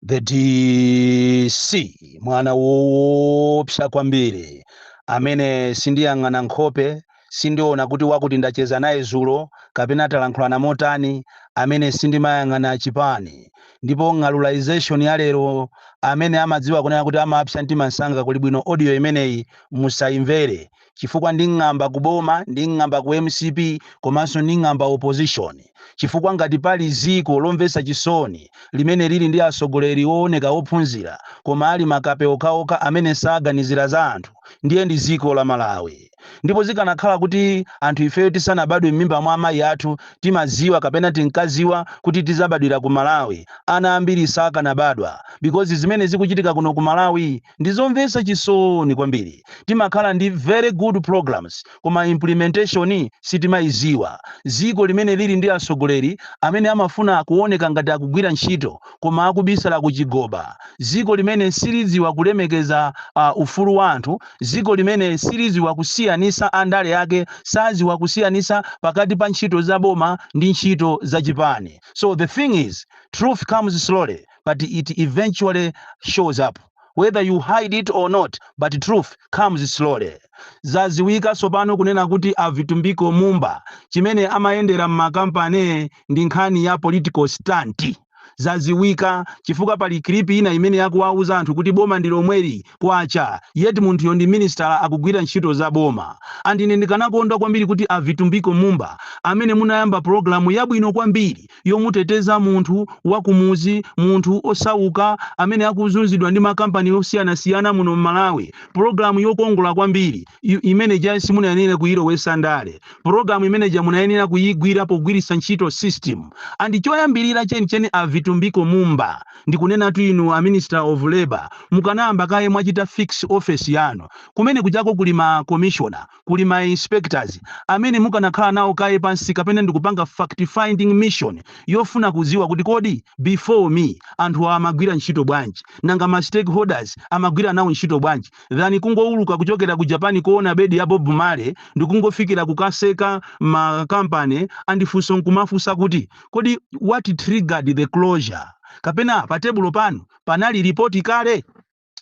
the dc mwana woopsa kwambiri amene sindiyang'ana nkhope sindiona kuti wakuti ndacheza naye zulo kapena talankhulana motani amene sindimayang'ana chipani ndipo ng'alulization ya lero amene amadziwa kunena kuti amapsa mtima msanga kuli bwino audio imeneyi musayimvere chifukwa nding'amba ku boma, nding'amba ku mcp komanso nding'amba opposition chifukwa ngati pali ziko lomvetsa chisoni limene lili ndi atsogoleri owoneka ophunzira koma ali makape okhaokha amene saganizira za anthu ndiye ndi ziko la Malawi ndipo zikanakhala kuti anthu ifeyo tisanabadwe m'mimba mwa amayi athu timadziwa kapena tinkadziwa kuti tidzabadwira ku Malawi ana ambiri sakanabadwa because zimene zikuchitika kuno ku Malawi Ndizomvetsa chisoni kwambiri timakhala ndi very good programs koma implementation sitimaiziwa. Ziko limene lili ndi atsogoleri amene amafuna kuoneka ngati akugwira ntchito koma akubisala kuchigoba, ziko limene silidziwa kulemekeza ufulu wa anthu, ziko limene silidziwa kusiyanisa andale ake sadziwa kusiyanisa pakati pa ntchito za boma ndi ntchito za chipani. So the thing is, truth comes slowly. but it eventually shows up whether you hide it or not but truth comes slowly zaziwika tsopano kunena kuti a vitumbiko mumba chimene amayendera m'makampani ndi nkhani ya political stunt zaziwika chifukwa pali kilipi ina imene yakuwauza anthu kuti boma ndi lomweli kwacha yet munthuyo ndi minisitala akugwira ntchito za boma and ine ndikanakondwa kwambiri kuti a vitumbiko mumba amene munayamba pulogalamu yabwino kwambiri yomuteteza munthu wa kumudzi, munthu osauka amene akuzunzidwa ndi makampani osiyanasiyana muno mmalawi. Program yokongola kwambiri imene ija simunayenere kuyilowetsa ndale. Program imene ija munayenera kuyigwira pogwiritsa ntchito system. And choyambirira chenicheni a Vitumbiko Mumba ndikunenatu inu a Minister of Labour mukanayamba kaye mwachita fix office yanu. Kumene kujako kuli ma commissioner. kuli ma inspectors amene mukanakhala nawo kaye pansi kapena ndikupanga fact finding mission yofuna kudziwa kuti kodi before me anthuwa amagwira ntchito bwanji nanga ma stakeholders amagwira nawo ntchito bwanji than kungowuluka kuchokera ku Jamaica kowona bedi ya Bob Marley ndikungofikira kukaseka ma company and funso nkumafunsa kuti kodi what triggered the closure kapena pa tebulo panu panali report kale?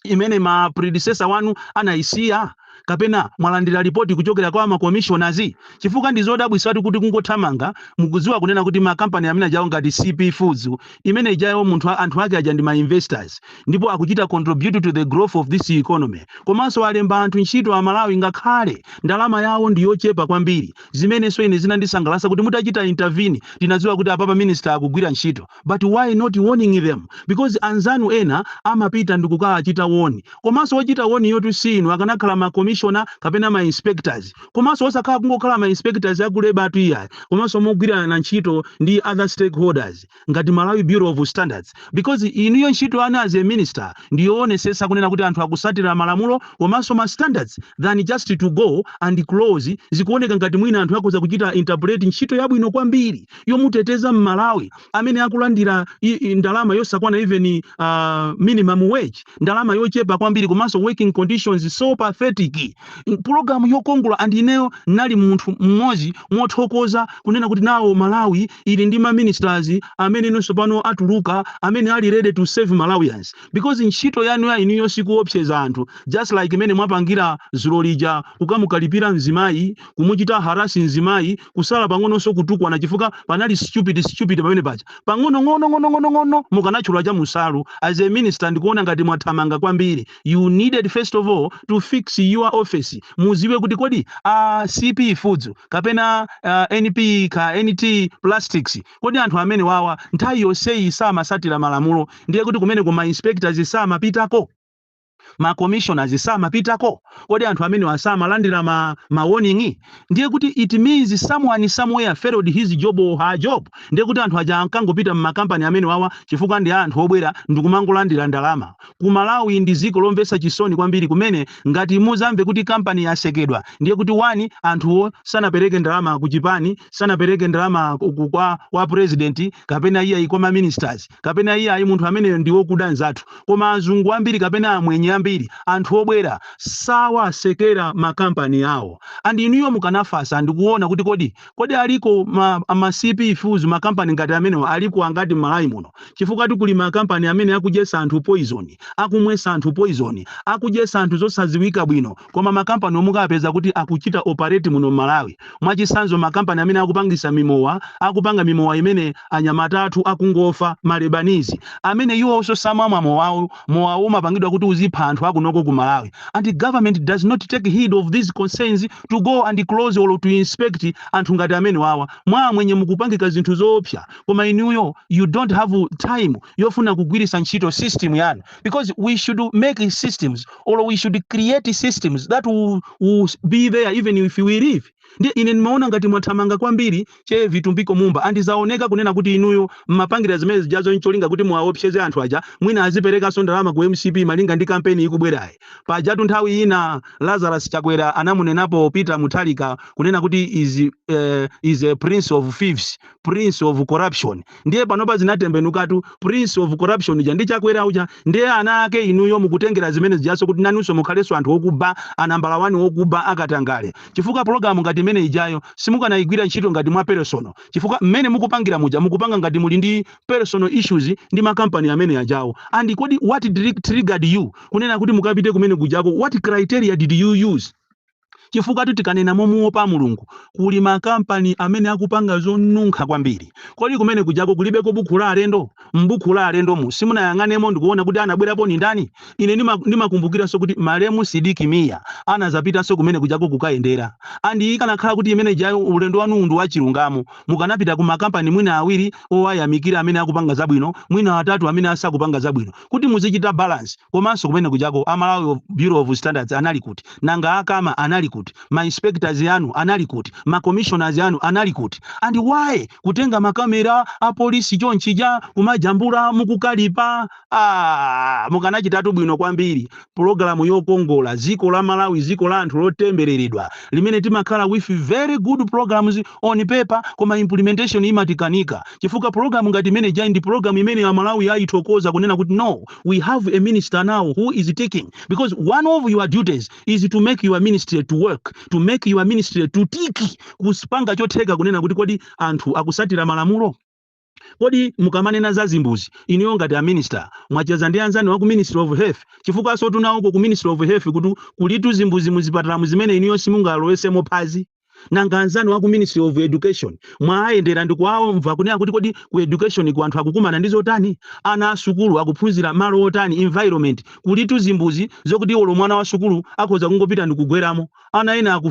imene ma predecessor wanu anayisiya kapena mwalandira ripoti kuchokera kwa ma commissioners chifukwa ndi zodabwisatu kuti kungothamanga mukudziwa kunena kuti makampani amene ajawo ngati cp feeds imene ijayo munthu a- anthu ake aja ndi ma investors ndipo akuchita contribute to the growth of this economy komanso alemba anthu ntchito a malawi ngakhale ndalama yawo ndi yochepa kwambiri zimenenso ine zinandisangalatsa kuti mutachita intervene tinadziwa kuti apapa minister akugwira ntchito but why not warning them because anzanu ena amapita ndikukawachita woni komanso wochita woniyotu si inu akanakhala ma commissioner kapena ma inspectors komanso osakhala kungokhala ma inspectors aku leba atu iyayi komanso mogwirana ntchito ndi other stakeholders ngati malawi bureau of standards because inuyo ntchito yanu as a minister ndiyoonesesa kunena kuti anthu akusatira malamulo komanso ma standards than just to go and close zikuoneka ngati mwina anthu akhoza kuchita interpret ntchito yabwino kwambiri yomuteteza mmalawi amene akulandira i- i- ndalama yosakwana even uh, minimum wage ndalama yochepa kwambiri komanso working conditions so pathetic pulogalamu yokongola and ineyo ndinali munthu mmodzi mothokoza kunena kuti now malawi ili ndi ma ministers amene inonso pano atuluka amene ali ready to serve malawians because ntchito yanu ya inuyo sikuopseza anthu just like mmene mwapangira zulo lija kukamukalipira mzimayi kumuchita harasi mzimayi kusala pang'ononso kutukwana chifukwa panali stupid stupid pamene paja pang'ono ng'ono ng'ono ng'ono ng'ono mukanatchula cha musalu as a minister ndikuona ngati mwathamanga kwambiri you needed first of all to fix your office muziwe kuti kodi a cp foods kapena ah, np ka nt plastics kodi anthu amenewawa nthawi yonseyi samasatira malamulo ndiye kuti kumeneku ma inspectors samapitako ma commissioners samapitako kodi anthu amenewa samalandira ma, ma warning ndiye kuti it means someone somewhere failed his job or her job ndiye kuti anthu aja ankangopita mmakampani amenewawa chifukwa ndi anthu obwera ndikumangolandira ndalama ku malawi ndi dziko lomvetsa chisoni kwambiri kumene ngati muzamve kuti kampani yasekedwa ndiye kuti wani anthuwo sanapereke ndalama ku chipani sanapereke ndalama ku- ku- kwa, kwa purezidenti kapena iyayi kwa ma ministers kapena iyayi munthu ameneyo ndi wokuda nzathu koma azungu ambiri kapena amwenye ambiri anthu obwera sawasekera makampani awo and inuyo mukanafasa ndi kuona kuti kodi kodi aliko ma, ma cp foods makampani ngati amenewa aliko angati m'malawi muno chifukwatu kuli makampani amene akudyetsa anthu poison akumwetsa anthu poison akudyetsa anthu zosadziwika bwino Koma makampaniwo mukawapeza kuti akuchita operate muno mmalawi. Mwachitsanzo makampani amene akupangisa mimowa akupanga mimowa imene anyamata athu akungofa, ma Lebanese, amene iwowonso samamwa mowawo, mowawo umapangidwa kuti uzipha anthu akunoko ku Malawi and government does not take heed of these concerns to go and close or to inspect anthu ngati amenewawa. Mwa amwenye mukupangika zinthu zoopsa koma inuyo you don't have time yofuna kugwirisa ntchito system yanu because we should make systems or we should create systems that will, will be there even if we leave ndiye ine ndimaona ngati mwathamanga kwambiri che vitumbiko mumba and zaoneka kunena kuti inuyo mmapangira zimene zijazo ncholinga kuti muwaopseze anthu aja mwina aziperekanso ndalama ku mcp malinga ndi kampeni ikubwerayi pajatu nthawi ina lazarus chakwera anamunenapo peter muthalika kunena kuti is, uh, is a prince of thieves prince of corruption ndiye panopa zinatembenukatu prince of corruption uja ndi Chakwera uja ndiye ana ake inuyo mukutengera zimene zijaso kuti nanunso mukhalenso anthu okuba anambala wani okuba akatangale chifukwa pologalamu ngati imene ijayo simukanayigwira ntchito ngati mwa personal chifukwa mmene mukupangira muja mukupanga ngati muli ndi personal issues ndi makampani amene ajawo and kodi what triggered you kunena kuti mukapite kumene kujako what criteria did you use Chifukwa-tu tikanena momuopa Mulungu, kuli ma kampani amene akupanga zonunkha kwambiri. Kodi kumene kujako kulibeko bukhu la alendo? M'bukhu la alendomu simunayang'anemo ndikuona kuti anabwerapo ndi ndani? Ine ndimakumbukiranso kuti malemu Sidiki Miya anazapitanso kumene kujako kukayendera. And ikanakhala kuti imene ijayo ulendo wanuwu ndi wachilungamo, mukanapita ku ma kampani mwina awiri owayamikira amene akupanga zabwino, mwina atatu amene asakupanga zabwino. kuti muzichita balance komanso kumene kujako a Malawi Bureau of Standards anali kuti? Nanga a Cama anali kuti? Ma inspectors anu anali kuti? Ma commissioners anu anali kuti? And why kutenga ma camera a police chonchija kumajambula mukukalipa? Mukanachitatu bwino kwambiri pulogalamu yokongola dziko la Malawi dziko la anthu lotembereredwa limene timakhala with very good programs on paper koma implementation imatikanika. chifukwa program ngati imene ijayo ndi program imene a Malawi ayithokoza kunena kuti no we have a minister now who is ticking because one of your duties is to make your ministry to work to make your ministry to tick kuzipanga chotheka kunena kuti kodi anthu akusatira malamulo kodi mukamanena za zimbuzi inuyo ngati a minister mwacheza ndi anzanu wa ku ministry of health chifukwansotu nawoko ku ministry of health kuti kulitu zimbuzi muzipatalamu zimene inuyo simungalowesemo phazi Nanga anzanu aku ministry of education mwaayendera ndikuwaomva kunena kuti kodi ku education ku anthu akukumana ndi zotani? Ana a sukulu akuphunzira malo otani, environment? Kulitu zimbuzi zokuti olo mwana wa sukulu akhoza kungopita ndikugweramo. Ana ena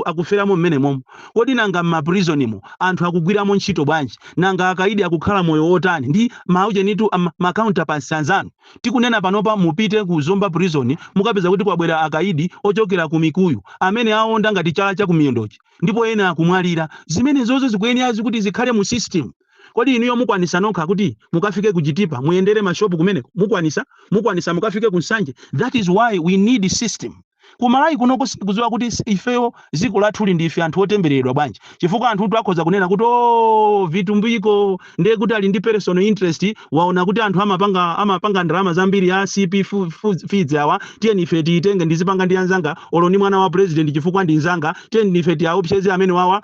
akuferamo m'menemomo. Kodi nanga m'ma prison mo anthu akugwiramo ntchito bwanji? Nanga akaidi akukhala moyo wotani? Ndi, maujenitu, ma counterparts anzanu? Tikunena panopa mupite ku Zomba Prison mukapeza kuti kwabwera akaidi ochokera ku Mikuyu amene aonda ngati chala cha kumiyendochi ndipo ena akumwalira. Zimenezozo zikuyenera kuti zikhale mu system. Kodi inuyo mukwanisa nokha kuti mukafike ku Chitipa muyendere ma shop kumeneko? Mukwanisa? Mukwanisa mukafike ku Nsanje? That is why we need system. Ku Malawi kunoko sindikudziwa kuti ifeyo dziko lathuli ndi ife anthu otembereredwa bwanji, chifukwa anthutu akhoza kunena kuti oo Vitumbiko ndiye kuti ali ndi personal interest, waona kuti anthu amapanga ndalama zambiri a CP Feeds awa, tiyeni ife tiitenge ndizipanga ndi anzanga olo ndi mwana wa president chifukwa ndi mzanga, tiyeni ife tiaopseze amenewawa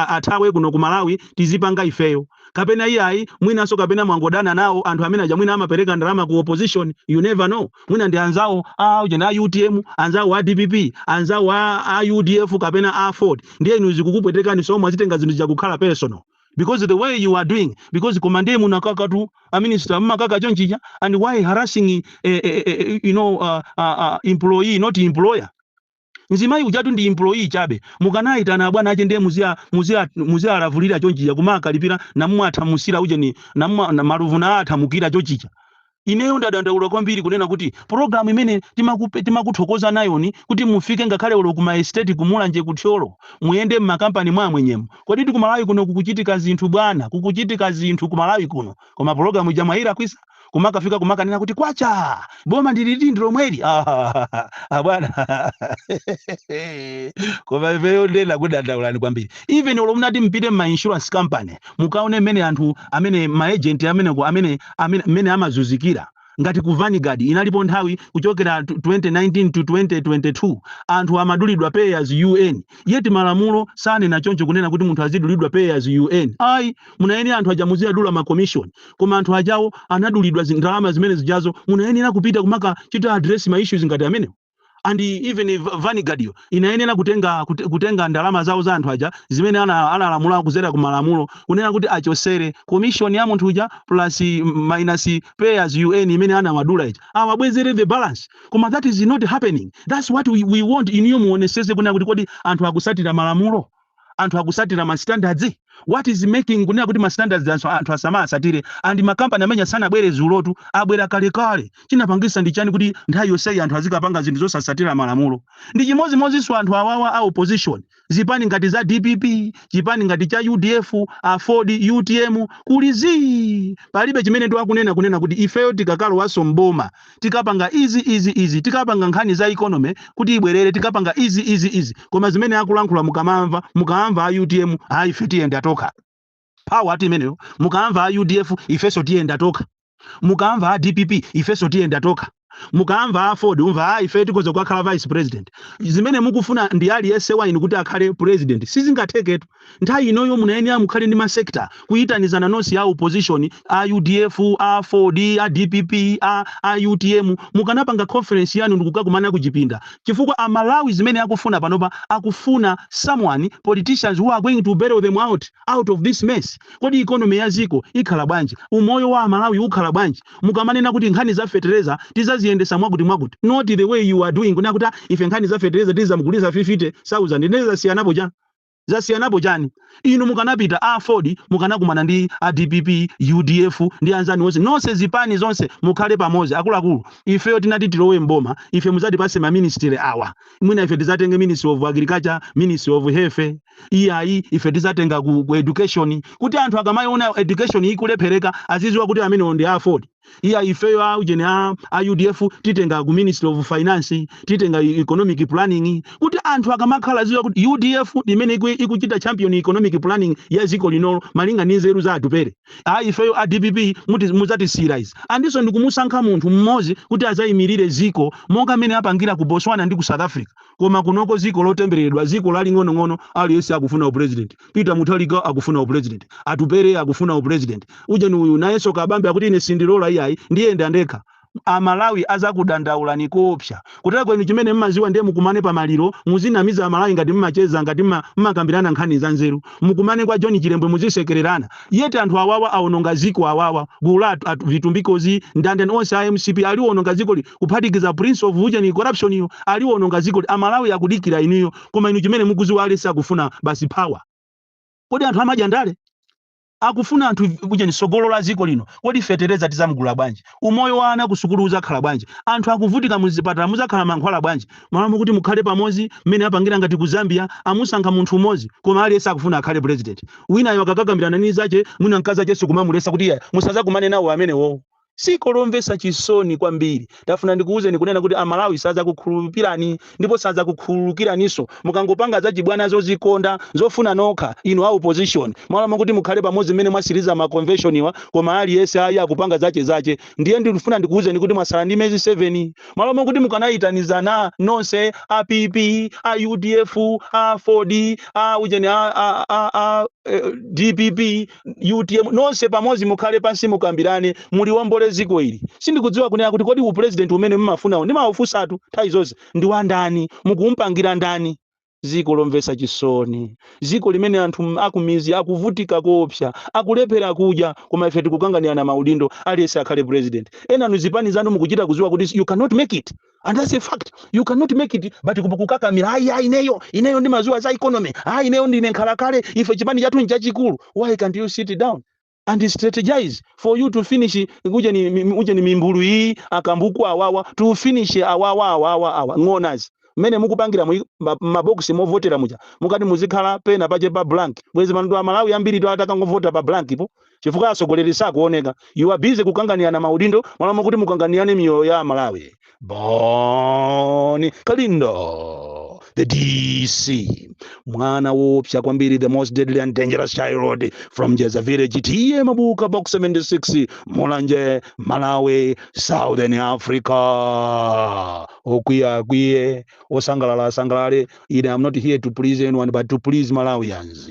athawe kuno ku Malawi tizipanga ifeyo. kapena iyayi mwinanso kapena mwangodana nawo anthu amene aja mwina amapereka ndalama ku opposition you never know mwina ndi anzawo a ujeni a utm anzawo a dpp anzawo a, a udf kapena aford ndiye inu zikukupwetekani so mwazitenga zinthu zija kukhala personal because the way you are doing because koma ndiye munakaka tu a minister mmakaka chonchija and why harassing eh, eh, eh, eh, you know uh, uh, uh, employee not employer Mzimayi ujatu ndi employee chabe. Mukanaitana abwana ache ndiye muziwa muziwa muziwalavulira chonchija kumaakalipira namumwe athamusira ujeni namumwa na malovu naa athamukira chochija. Ineyo ndadandaula kwambiri kunena kuti program imene timakupe timakuthokoza nayoni kuti mufike ngakhale olo ku ma estate ku Mulanje ku Thyolo muyende mma company mwa amwenyemo. Koditu ku Malawi kuno kukuchitika zinthu bwana kukuchitika zinthu ku Malawi kuno koma program ija mwailakwisa? kumakafika kumakanena kuti kwacha boma ndiliti ndilomweli abwana ah, koma ifeyo ndena kudandaulani kwambiri even olo munati mpite mma insurance company mukaone mmene anthu amene maagent ameneko amene amene amene amazuzikira ngati ku vanguard inalipo nthawi kuchokera tu- 2019 to 2022 anthu amadulidwa pay as you earn yeti malamulo sanena choncho kunena kuti munthu azidulidwa pay as you earn ayi munayenera anthu aja muziwadula ma commission koma anthu ajawo anadulidwa zi- ndalama zimene zijazo munayenera kupita kumakachita address ma issues ngati amenewo and even Va- vanguard yo inayenera kutenga kute- kutenga ndalama zawo za anthu aja zimene ana- analamula kuzera ku malamulo kunena kuti achosere commission ya munthu uja plus mm, minus pay as you earn imene anawadula ija awabwezere the balance koma that is not happening that's what we, we want inuyo muonesese kunena kuti kodi anthu akusatira malamulo anthu akusatira ma standards what is making kunena kuti ma standards anthu, anthu asamasatire and ma company amenewa sanabwere dzulotu abwera kalekale chinapangisa ndi chani kuti nthawi yonseyi anthu azikapanga zinthu zosasatira malamulo ndi chimodzimodzinso anthu awawa a opposition zipani ngati za dpp chipani ngati cha udf aford utm kuli zii palibe chimene akunena kunena kuti ifeyo tikakalowanso mboma tikapanga izi, izi, izi, tikapanga nkhani za economy kuti ibwerere, tikapanga izi, izi, izi. Koma zimene akulankhula mukamaamva, mukaamva a UTM, ayi ife tiyenda tokha. Power ati imeneyo. Mukaamva a UDF, ifenso tiyenda tokha. Mukaamva a DPP, ifenso tiyenda tokha. Mukaamva Aford, umva ayi ife tikhoza kukhala vice president. Zimene mukufuna ndi aliyense wa inu kuti akhale president. Sizingatheketu. Nthawi inoyo munayenera mukhale ndi ma sector kuyitanizana nonse a opposition, a udf, a aford, a dpp, a a utm mukanapanga conference yanu ndikukakumana kuchipinda chifukwa a Malawi zimene akufuna panopa akufuna someone, politicians who are going to bail them out, out of this mess. Kodi economy ya dziko ikhala bwanji? Umoyo wa a Malawi ukhala bwanji mukamanena kuti nkhani za fetereza tizaziyendesa mwakuti mwakuti not the way you are doing kunena kuti a ife nkhani za fetereza tizamugulisa 50,000 ndiye zasiyanapo chani? Zasiyanapo chani? Inu mukanapita a aford mukanakumana ndi a dpp, udf ndi anzanu onse nonse zipani zonse mukhale pamozi akuluakulu ifeyo titati tilowe m'boma ife muzatipase ma ministry awa mwina ife tizatenge ministry of agriculture, ministry of health iyayi ife tizatenga ku education kuti anthu akamaiona education ikulephereka aziziwa kuti amenewo ndi a aford. iya ifeyo a ujeni a, a udf titenga ku ministry of finance titenga e- economic planning kuti anthu akamakhala aziziwa kuti udf ndi imene iku- ikuchita champion economic planning ya dziko linolo malinga ndi nzeru za atupere a ifeyo a dpp muti- mudzatisiyira izi ndinso ndikumusankha munthu mmodzi kuti adzayimirire dziko monga mmene apangira ku botswana ndi ku south africa koma kunoko dziko lotembereredwa dziko laling'onong'ono aliyense akufuna upresident Peter Muthalika akufuna u president, Atupele akufuna u president, ujeni uyu nayenso Kabambe akuti ine sindilola iyayi ndiyenda ndekha. Amalawi akukudandaulani koopsa. Koma inu chimene mmaziwa ndiye mukumane pa maliro muzinamiza amalawi ngati mmacheza ngati mmakambirana nkhani za nzeru. Mukumane kwa John Chilembwe muzisekererana. Yet anthu awawa awononga ziko awawa gulu la a vitumbikozi ndandani onse a mcp aliwononga zikoli kuphatikiza prince of ujeni corruption yu aliwononga zikoli. Amalawi akudikira inuyo. koma inu chimene mukuziwa aliyense akufuna basi power kodi anthu amadya ndale akufuna anthu ujeni sogolo la ziko lino kodi fetereza tizamgula bwanji umoyo wa ana kusukulu uzakhala bwanji anthu akuvutika muzipatala muzakhala mankhwala bwanji malo mokuti mukhale pamozi mmene apangira ngati ku Zambia kumusankha munthu umozi koma aliyense akufuna akhale president winayo akakakambirana ni anzache mwina mkazi acheso akumamulesa kuti musazakumane nawo amenewowo Dziko lomvetsa chisoni kwambiri. Ndafuna ndikuuzeni kunena kuti a Malawi sadzakukhululukirani ndipo sadzakukhululukiraninso mukangopanga zachibwana zozikonda zofuna nokha inu a opposition malo mokuti mukhale pamodzi mmene mwasiliza ma convention-wa koma aliyense ayi akupanga zache zache ndiye ndifuna ndikuuzeni kuti mwasala ndi mezi 7 malo mokuti mukanaitanizana nonse a PP a udf a aford a ujeni a a a a dpp utm nonse pamodzi mukhale pansi mukambirane muliwombole dziko ili sindikudziwa kunena kuti kodi upresident umene mumafunawo ndimawafunsatu nthawi zonse ndi wandani mukumpangira ndani dziko lomvetsa chisoni dziko limene anthu m- akumizi akuvutika koopsa akulephera kudya koma ife tikukanganirana maudindo aliyense akhale president enanu zipani zanu mukuchita kudziwa kuti you cannot make it and that's a fact you cannot make it but kukakamira ayi ayi ineyo ineyo ndimaziwa za economy ayi ineyo ndine nkhalakale ife chipani chathu nchachikulu why can't you sit down and strategize for you to finish ujeni, mi- ujeni mimbulu iyi akambuku awawa to finish awawa awawa awa ng'onazi mmene mukupangiramu maboksi ovotera muja mukati mumakhala pena pache pa blank bwezi pano a malawi ambiri to atakangovota pa blank po chifukwa atsogoleri sakuoneka you are busy kukanganirana maudindo malo mokuti mukanganirane miyoyo ya amalawi bon kalindo the dc mwana woopsa kwambiri the most deadly and dangerous child from jeza village ta mabuka box 76 mulanje malawi southern africa okwiya akwiye osangalala asangalale ine am not here to please anyone but to please malawians